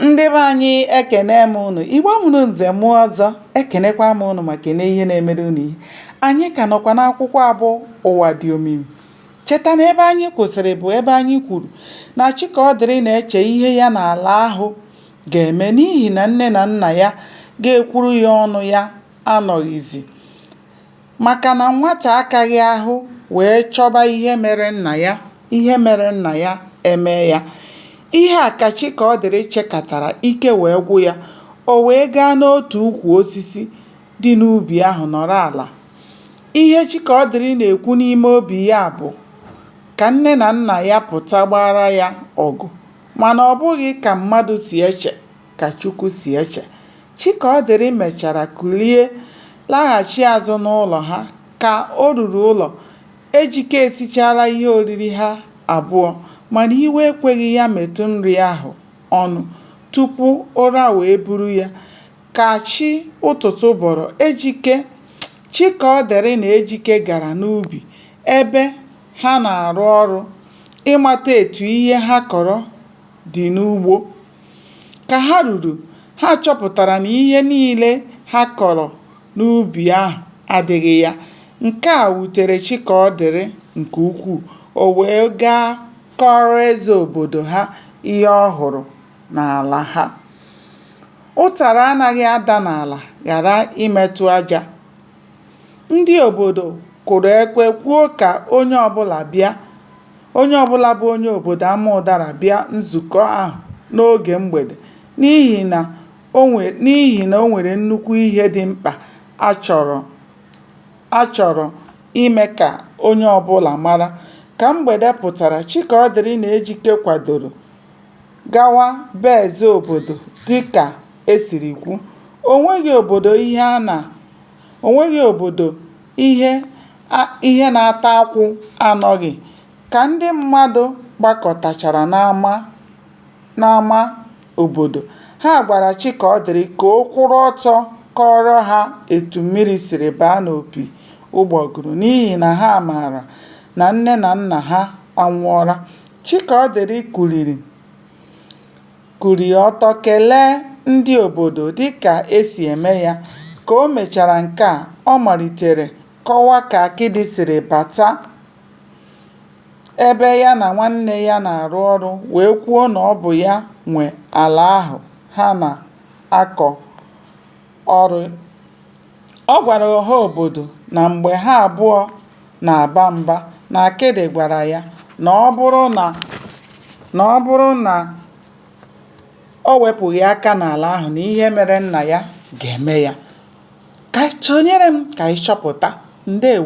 ndị be anyị ekene m unu igbo mụrụ nze mụọ ọzọ ekenekwa m unu ma kene ihe na-emere unu ihe anyị ka nọkwa n'akwụkwọ abụ ụwa dị omimi cheta na ebe anyị kwụsịrị bụ ebe anyị kwuru na chikaọdịrị na-eche ihe ya na ala ahụ ga-eme n'ihi na nne na nna ya ga-ekwuru ya ọnụ ya anọghịzi Maka na nwata akaghị ahụ wee chọba ihe mere nna ya, ihe mere nna ya emee ya. Ihe a ka Chikaọdịrị chekatara, ike wee gwụ ya. O wee gaa n'otu ukwu osisi dị n'ubi ahụ nọrọ ala. Ihe Chikaọdịrị na-ekwu n'ime obi ya bụ ka nne na nna ya pụta gbaara ya ọgụ mana ọ bụghị ka mmadụ si eche. ka Chukwu si eche. Chikaọdịrị mechara kulie laghachi azụ n'ụlọ ha. Ka o ruru ụlọ, Ejike esichaala ihe oriri ha abụọ mana iwe ekweghị ya metụ nri ahụ ọnụ tupu ụra wee buru ya. Ka chi ụtụtụ bọrọ, Ejike, Chikaọdịrị na Ejike gara n'ubi ebe ha na-arụ ọrụ ịmata etu ihe ha kọrọ dị n'ugbo. Ka ha ruru, ha chọpụtara na ihe niile ha kọrọ n'ubi ahụ adịghị ya. Nke a wutere Chikaọdịrị nke ukwuu. O wee gaa kọọrọ eze obodo ha ihe ọ hụrụ n'ala ha. Ụtara anaghị ada n'ala ghara imetụ aja. Ndị obodo kụrụ ekwe kwuo ka onye ọbụla bịa. onye ọbụla bụ onye obodo Amaụdara bịa nzukọ ahụ n'oge mgbede n'ihi na o nwe n'ihi na o nwere nnukwu ihe dị mkpa a chọrọ a chọrọ ime ka onye ọbụla mara. Ka mgbede pụtara, Chikaọdịrị na Ejike kwadoro gawa be eze obodo dịka e siri kwu. O nweghị obodo ihe a na O nweghị obodo ihe a ihe na-ata akwụ anọghị. Ka ndị mmadụ gbakọtachara n'ama n'ama obodo, ha gwara Chikaọdịrị ka ọ kwụrụ ọtọ kọọrọ ha etu mmiri siri baa n'opi ụgbọgụrụ n'ihi na ha maara na nne na nna ha anwụọla. Chikaọdịrị kuliri. kuliri ọtọ kelee ndị obodo dịka e si eme ya. Ka o mechara nke a, ọ malitere kọwa ka Akịdị siri bata ebe ya na nwanne ya na-arụ ọrụ wee kwuo na ọ bụ ya nwe ala ahụ ha na-akọ ọrụ. Ọ gwara ọha obodo na mgbe ha abụọ na-aba mba na Akịdị gwara ya na ọ bụrụ na o wepụghị aka n'ala ahụ na ihe mere nna ya ga-eme ya. Ka sonyere m ka anyị chọpụta. Ndewo!